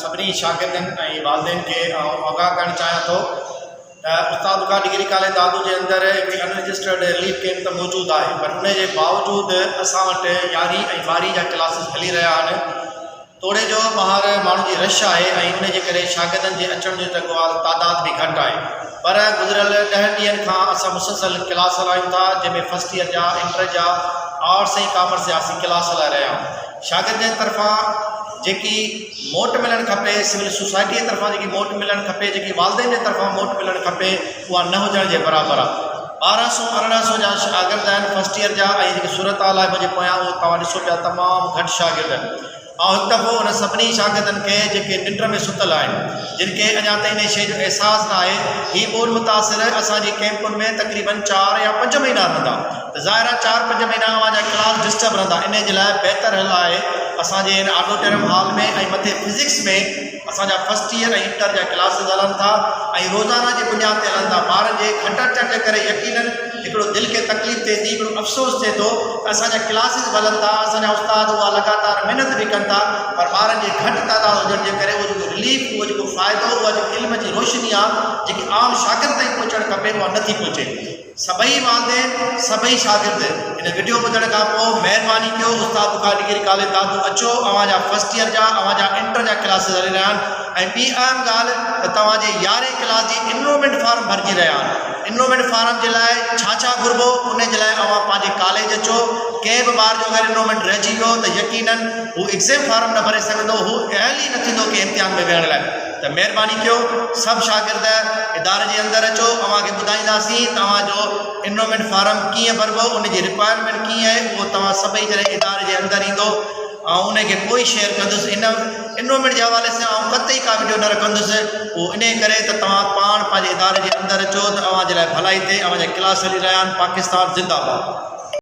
سڀني شاگردن ۽ والدين کي آئون آگاهه ڪرڻ چاهيان ٿو ته استاد بخار ڊگري ڪاليج دادو جي اندر هڪ ان رجسٽرڊ رليف ڪيمپ ته موجود آهي پر ان جي باوجود اسان وٽ يارهين ۽ ٻارهين جا ڪلاسز هلي رهيا آهن توڙي جو ٻاهر ماڻهن جي رش آهي ۽ ان جي ڪري شاگردن جي اچڻ جو جيڪو آهي تعداد به گهٽ آهي پر گذريل ڏهن ڏينهن کان اسان مسلسل ڪلاس هلايون ٿا جنهن ۾ فرسٽ ايئر جا انٽر جا آرٽس ۽ ڪامرس جا اسين ڪلاس هلائي رهيا آهيون شاگردن جي طرفان جيڪي موٽ ملڻ کپي سول سوسائٽي جي طرفان جيڪي موٽ ملڻ کپي جيڪي والدين جي طرفان موٽ ملڻ کپي اها نه هجڻ جي برابر آ ٻارهن سو ارڙهن سو جا شاگرد آهن فسٽ ايئر جا ۽ جيڪي صورت حال آهي منهنجي پويان اهو توهان ڏسو پيا تمام گهٽ شاگرد آهن آئون هڪ دفعو ان سڀني شاگردن کي جيڪي ننڊ ۾ ستل آهن جن کي اڃا تائين ان شيء جو احساس نه آهي هي ٻول متاثر اسان جي ڪيمپن ۾ تقريبن چار يا پنج مهينا رهندا ظاهر آهي چار پنج مهينا اوهان جا ڪلاس ڊسٽرب رهندا انهي جي لاء بهتر حل آهي اسان جي هن آڊوٽيرم هال ۾ ۽ مٿي فزڪس ۾ اسان جا فرسٽ ايئر ۽ انٽر جا ڪلاسز هلن ٿا ۽ روزانه جي بنياد تي هلن ٿا ٻارن جي گهٽ اچڻ جي ڪري يقينن هڪڙو دل کي تڪليف ٿئي ٿي هڪڙو افسوس ٿئي ٿو ته اسان جا ڪلاسز به هلن ٿا اسان جا استاد اها لڳاتار محنت به ڪن ٿا پر ٻارن جي گهٽ تعداد هجڻ جي ڪري اهو جيڪو رليف اهو جيڪو فائدو اها جيڪي علم جي روشني آهي جيڪي عام شاگرد تائين پهچڻ کپي اها نٿي پهچي سڀئي والدين سڀئي شاگرد هن وڊيو ٻڌڻ کان پوء مهرباني ڪيو استاد بخار ڊگري ڪاليج دادو اچو اوهان جا فرسٽ ييئر جا اوهان جا انٽر جا ڪلاسز هلي رهيا آهن ۽ ٻي اهم ڳالهه ته توهان جي يارهين ڪلاس جي انرومينٽ فارم ڀرجي رهيا آهن انرومينٽ فارم جي لاء ڇا ڇا گهربو انهي جي لاء اوهان پنهنجي ڪاليج اچو ڪنهن به ٻار جو اگر انرومينٽ رهجي ويو ته يقينن هو ايگزيم فارم نه ڀري سگهندو هو اهل ئي نه ٿيندو ڪنهن امتحان ۾ ويهڻ لاء ته مهرباني ڪيو سڀ شاگرد اداري جي اندر اچو اوهان کي ٻڌائينداسين ته اوهان جو انرومينٽ فارم ڪيئن ڀربو ان جي رڪوائرمينٽ ڪيئن آهي اهو توهان سڀئي جڏهن اداري جي اندر ايندو آئون ان کي پوء شيئر ڪندس ان انرومينٽ جي حوالي سان آئون قطعي ڪا ويڊيو نه رکندس اهو ان ڪري ته توهان پاڻ پنهنجي اداري جي اندر اچو ته اوهان جي لاء ڀلائي ٿئي اوهان جا ڪلاس هلي رهيا آهن پاڪستان زنده باد